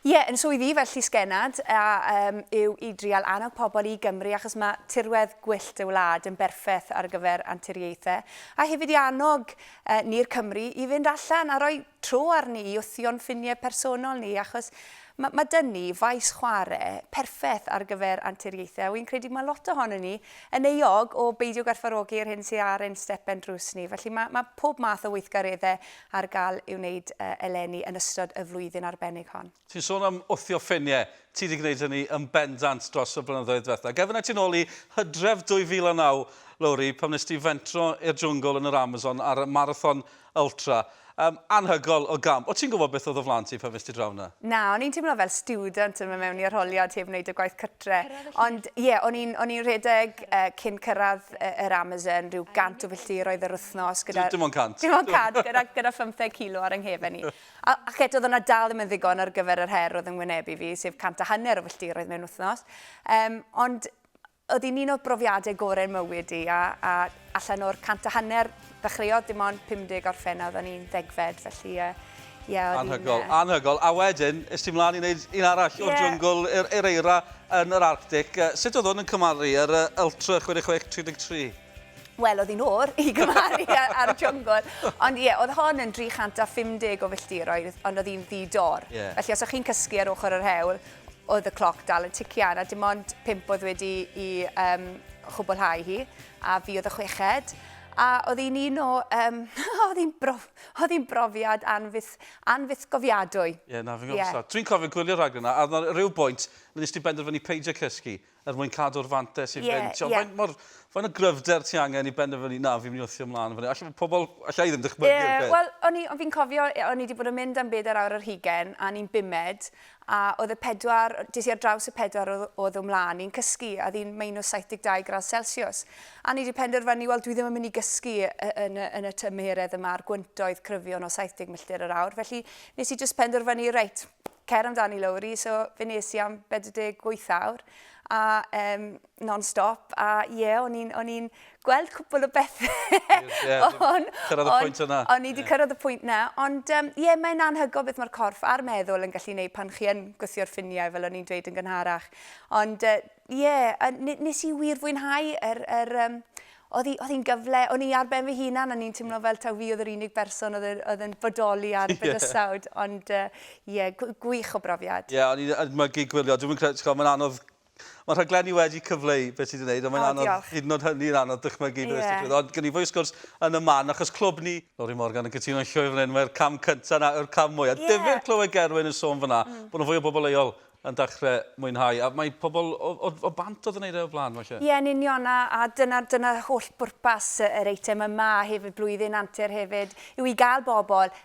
Ie, yn swydd i fel llysgennad a um, yw i drial annog pobl i Gymru achos mae tirwedd gwyllt y wlad yn berffeth ar gyfer anturiaethau a hefyd i annog uh, ni'r Cymru i fynd allan a rhoi tro arni i wthio'n ffiniau personol ni achos mae ma dyn ni faes chwarae perffaith ar gyfer anturiaethau a wy'n credu mae lot ohono ni yn euog o beidio gwerthfarogi'r hyn sydd ar ein stepen drws ni felly mae ma pob math o weithgareddau ar gael i'w wneud eleni yn ystod y flwyddyn arbennig hon. Ti'n sôn am wthio ffiniau. Ti 'di gwneud hynny yn bendant dros y blynyddoedd ddiwetha'. Gad fi wneu ti nôl i Hydref 2009, Lowri, pan wnes di fentro i'r jwngl yn yr Amazon ar y Marathon Ultra. Yym, anhygoel o gamp. O' ti'n gwybod beth oedd o flaen ti pan fues ti draw 'na? Na, o'n i'n teimlo fel stiwdant yn mynd mewn i arholiad heb wneud y gwaith dre. Ond ie, yeah, o'n i'n o'n i'n rhedeg uh, cyn cyrraedd uh, yr Amazon, rhyw gant o filltiroedd yr wythnos. Gyda, dim ond cant. Dim ond cant, gyda, gyda 15 kilo ar yng nghefen i. A, a chet oedd yna dal ddim yn ddigon ar gyfer yr her oedd yn wynebu fi, sef cant a hanner o filltiroedd mewn wythnos. Um, ond oedd hi'n un o'r brofiadau gorau mywyd i, a, a allan o'r cant a hanner Ddechreuodd dim ond 50 orffennodd yn un ddegfed felly yy ie oedd hi'n yy... Anhygol, anhygol. A wedyn es ti mlan i neud un arall... Ie. ...o'r jwngl i'r i'r eira yn yr Arctic yy sut oedd hwn yn cymharu yr yy Ultra 66 33? Wel oedd hi'n oer i gymharu a- a'r jwngl ond ie oedd hon yn 350 o filltiroedd ond oedd hi'n ddi dor. Ie. Felly os o' chi'n cysgu ar ochor yr hewl oedd y cloc dal yn tician a dim ond pump oedd wedi i yym chwbwlhau hi. a fi oedd y chweched, a oedd hi'n un o, um, oedd hi'n brof, oedd hi'n brofiad anfyth, anfythgofiadwy. Ie, yeah, na, fi'n gwybod yeah. Dwi'n cofio gwylio'r rhaglen yna, a ar rhyw bwynt, nes ti benderfynu peidio cysgu, er mwyn cadw'r fantes i yeah, fynd. Yeah. Fain, fain o gryfder ti angen i benderfynu, na, fi'n mynd i wrthio ymlaen. Alla pobl, alla i ddim dychmygu. Yeah, Wel, o'n fi'n cofio, o'n i wedi bod yn mynd am byd ar awr yr hugen, a ni'n bumed, A oedd y pedwar, des i ar draws y pedwar oedd, oedd o mlaen i'n cysgu, a oedd hi'n minus 72 gradd Celsius. A ni wedi penderfynu, wel, dwi ddim yn mynd i gysgu yn, yn, yn y tymheredd yma a'r gwyntoedd cryfion o 70 milltir yr awr. Felly, nes i just penderfynu, reit, cer amdani Lowri, so fe nes i am 48 awr. A um, non-stop, a ie, yeah, o'n i'n i gweld cwpl o bethau. yeah, on, cyrraedd y pwynt yna. O'n i wedi yeah. cyrraedd y pwynt yna, ond ie, um, yeah, mae'n anhygoel beth mae'r corff a'r meddwl yn gallu gwneud pan chi yn gwythio'r ffiniau, fel o'n i'n dweud yn gynharach. Ond ie, uh, yeah, nes i wir fwynhau yr, yr, um, oedd hi'n gyfle, o'n i ar ben fy hunan, o'n i'n teimlo fel taw fi oedd yr unig berson oedd yn bodoli ar y bydysawd, ond ie, uh, yeah, gwych o brofiad. Ie, yeah, o'n i'n ymygu gwylio, dwi'n credu, mae'n anodd Mae rhaglenni wedi cyfleu beth sydd wedi gwneud, ond mae'n anodd, diolch. hyd yn oed hynny yn anodd dychmygu beth yeah. sydd wedi Ond gen i fwy o sgwrs yn y man, achos clwb ni, Lori Morgan yn cytuno yn llwyr fan hyn, mae'r cam cyntaf na yw'r cam mwy. A yeah. difyr clywed Gerwyn yn sôn fyna, mm. bod nhw fwy o bobl leol yn dechrau mwynhau. A mae pobl o, o, o bant oedd yn ei o blaen, falle. Ie, yn union, a, a dyna, dyna holl bwrpas yr eitem yma, a hefyd blwyddyn antur hefyd, yw i gael bobl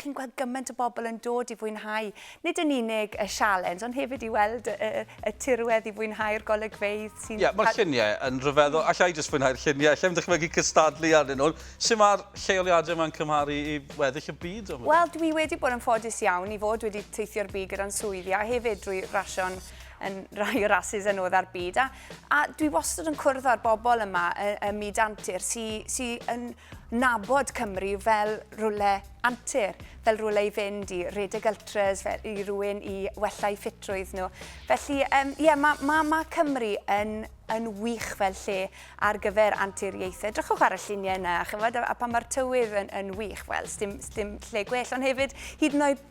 chi'n gweld gymaint o bobl yn dod i fwynhau nid yn unig y sialens, ond hefyd i weld y, y, y tirwedd, i fwynhau'r golygfeydd sy'n... Ie, yeah, mae'r lluniau yn rhyfeddol. Alla i jyst fwynhau'r lluniau, allai'n dychmygu cystadlu arnyn nhw. Sut mae'r lleoliadau yma'n cymharu i weddill y byd? Wel, dwi wedi bod yn ffodus iawn i fod wedi teithio'r byd gyda'n swyddi a hefyd drwy rasio'n yn rhai o rasis yn odd ar byd a A dwi wastad yn cwrdd â'r bobl yma ym myd antur sy'n yn nabod Cymru fel rhywle antur, fel rhywle i fynd i redeg ultras, fel i rywun i wella i ffitrwydd nhw. Felly, um, yeah, mae ma, ma Cymru yn, yn wych fel lle ar gyfer anturiaethau. Drychwch ar y lluniau yna, chymod, a, a pan mae'r tywydd yn, yn wych, wel, sdim, sdim lle gwell, ond hefyd, hyd yn oed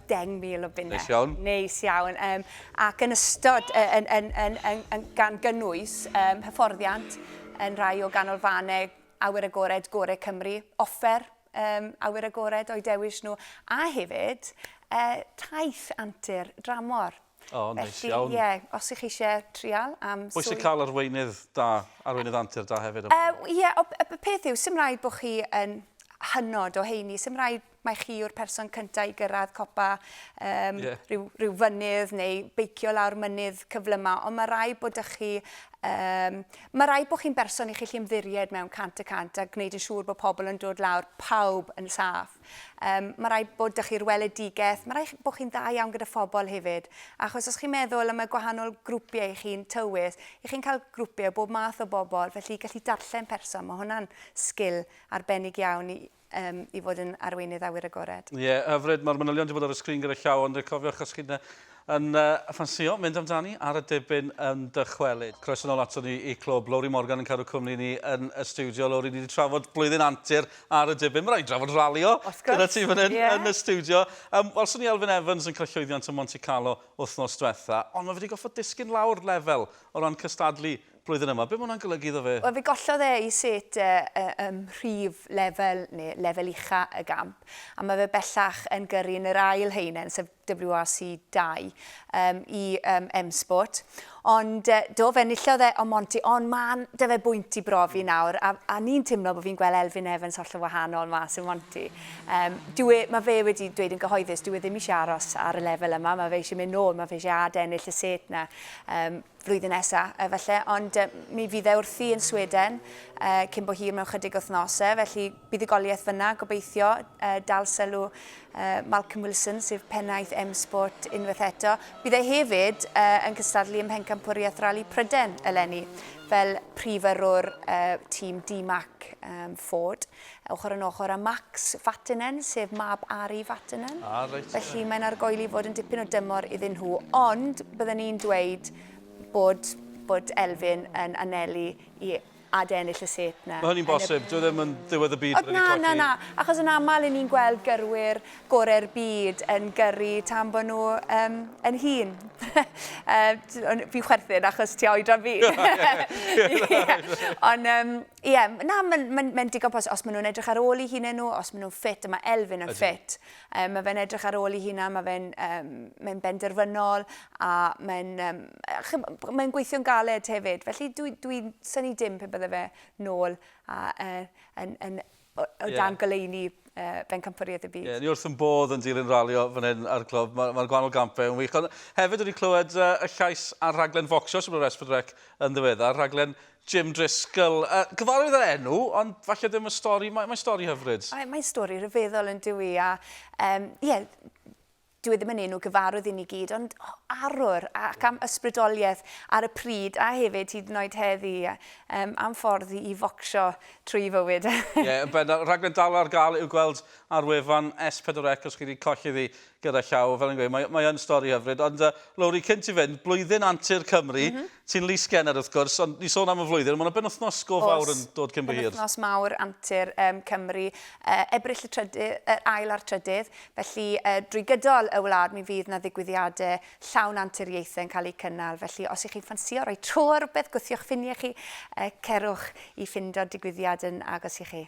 10,000 o bunnau. Neis iawn. Neis iawn. Um, ac yn ystod, uh, yn, yn, yn, yn, yn, gan gynnwys um, hyfforddiant yn rhai o ganolfannau awyr agored gore Cymru, offer um, awyr agored o'i dewis nhw, a hefyd uh, taith antur dramor. O, oh, neis iawn. Ie, os ych chi eisiau trial am... Pwy sy'n cael arweinydd da, arweinydd antur da hefyd? Ie, uh, yeah, y peth yw, sy'n rhaid bod chi yn hynod o heini, sy'n rhaid mai chi yw'r person cyntaf i gyrraedd copa um, yeah. rhyw, rhyw fynydd neu beicio lawr mynydd cyflymau, ond mae rai bod ych chi Um, mae rai bod chi'n berson i chi chi ymddiried mewn cant y cant a gwneud yn siŵr bod pobl yn dod lawr pawb yn saff. Um, mae rai bod ych chi'r weledigaeth, mae rai bod chi'n dda iawn gyda phobl hefyd. Achos os chi'n meddwl am y gwahanol grwpiau i chi'n tywys, i chi'n cael grwpiau bob math o bobl, felly gallu darllen person, mae hwnna'n sgil arbennig iawn i, um, i fod yn arweinydd awyr agored. Ie, yeah, hyfryd, mae'r manylion wedi bod ar y sgrin gyda llaw, ond cofiwch os chi'n yn uh, ffansio mynd amdani ar y debyn yn dychwelyd. Croes yn ôl ato ni i clwb. Lowri Morgan yn cadw cwmni ni yn y studio. Lowri, ni wedi trafod blwyddyn antur ar y debyn. Mae'n rhaid drafod ralio gyda ti fan hyn yeah. yn y studio. Um, Wel, swn i Elfyn Evans yn cael llwyddiant yn Monte Carlo wythnos diwetha, ond mae wedi goffod disgyn lawr lefel o ran cystadlu blwyddyn yma. Be mae hwnna'n golygu iddo fe? Wel, fe gollodd e ei set e ym mhrif lefel, neu lefel ucha' y gamp, a mae fe bellach yn gyrru yn yr ail haenen, sef WRC 2, um, i um, M-Sport. Ond uh, do, fe enillodd e o Monty, ond mae 'da fe bwynt i brofi hmm. nawr, a, a ni'n teimlo bod fi'n gweld Elfyn Evans holl o wahanol mas yn Monty. Um, dwi, e, mae fe wedi dweud yn gyhoeddus, dwi e ddim eisiau aros ar y lefel yma, mae fe eisiau mynd nôl, mae fe eisiau ad ennill y set na. Um, flwyddyn nesaf efallai, ond mi fydd e wrthi yn Sweden cyn bo hir mewn chydig wythnosau, felly buddugoliaeth fyna, gobeithio dal sylw Malcolm Wilson, sef pennaeth M-Sport unwaith eto. Bydd e hefyd yn cystadlu ym Mhencampwriaeth Rali Pryden eleni, fel prif yrrwr tîm DMAC Ford. Ochr yn ochr â Max Vatanen, sef mab Ari Vatanen. Ah, reit. Felly mae'n argoeli i fod yn dipyn o dymor iddyn nhw, ond byddwn ni'n dweud bod, bod Elfyn yn anelu i ad ennill y set na. Mae hynny'n bosib, y... dwi ddim yn ddiwedd y byd. O, na, na, na, achos yn aml yn ni'n gweld gyrwyr gorau'r byd yn gyrru tan bod nhw um, yn hun. uh, fi'n chwerthin achos ti oedran fi. Ond um, Ie, m- na, mae'n ma ma digon posib. Os maen nhw'n edrych ar ôl i hunain nhw, os maen nhw'n ffit, a mae Elfyn yn ffit. Um, mae fe'n edrych ar ôl i hunain, mae fe'n um, mae benderfynol, a mae'n um, mae gweithio'n galed hefyd. Felly dwi'n dwi, dwi syni dim pe bydde fe nôl a, uh, yn, yn, o dan goleuni Bencampwriaeth y Byd. Ie, ni wrth yn bodd yn dilyn ralio fan hyn ar Clwb. Mae'r ma gwahanol gampau yn wych. Ond hefyd wedi clywed uh, y llais ar rhaglen focsio sy'n bod ar Esbyd Rec yn ddiweddar, rhaglen Jim Driscoll. Uh, gyfarwydd yr enw, ond falle ddim y stori. Mae'n mae stori hyfryd. Mae'n mae stori rhyfeddol yn dywi. A, um, ie, dyw e ddim yn enw gyfarwydd i ni gyd, ond arwr ac am ysbrydoliaeth ar y pryd a hefyd hyd yn oed heddi um, am ffordd i focsio trwy fywyd. Ie, yeah, bendant. Rhaglen dal ar gael i'w gweld ar wefan S4C os chi wedi colli ddi gyda llaw. Fel yn gweud, mae, mae yn stori hyfryd. Ond uh, Lowri, cynt i fynd, blwyddyn antur Cymru, mm -hmm. Ti'n lys genner wrth gwrs, ond ni'n sôn am y flwyddyn, mae yna benwythnos go fawr yn dod cyn bo hir. Oes, penwythnos mawr antur Cymru, Ebrill y trydy- yr ail a'r trydydd, felly drwy gydol y wlad mi fydd 'na ddigwyddiadau llawn anturiaethau yn cael eu cynnal, felly os y'ch chi'n ffansïo rhoi tro ar rywbeth, gwthiwch ffiniau chi, cerwch i ffindo digwyddiad yn agos i chi.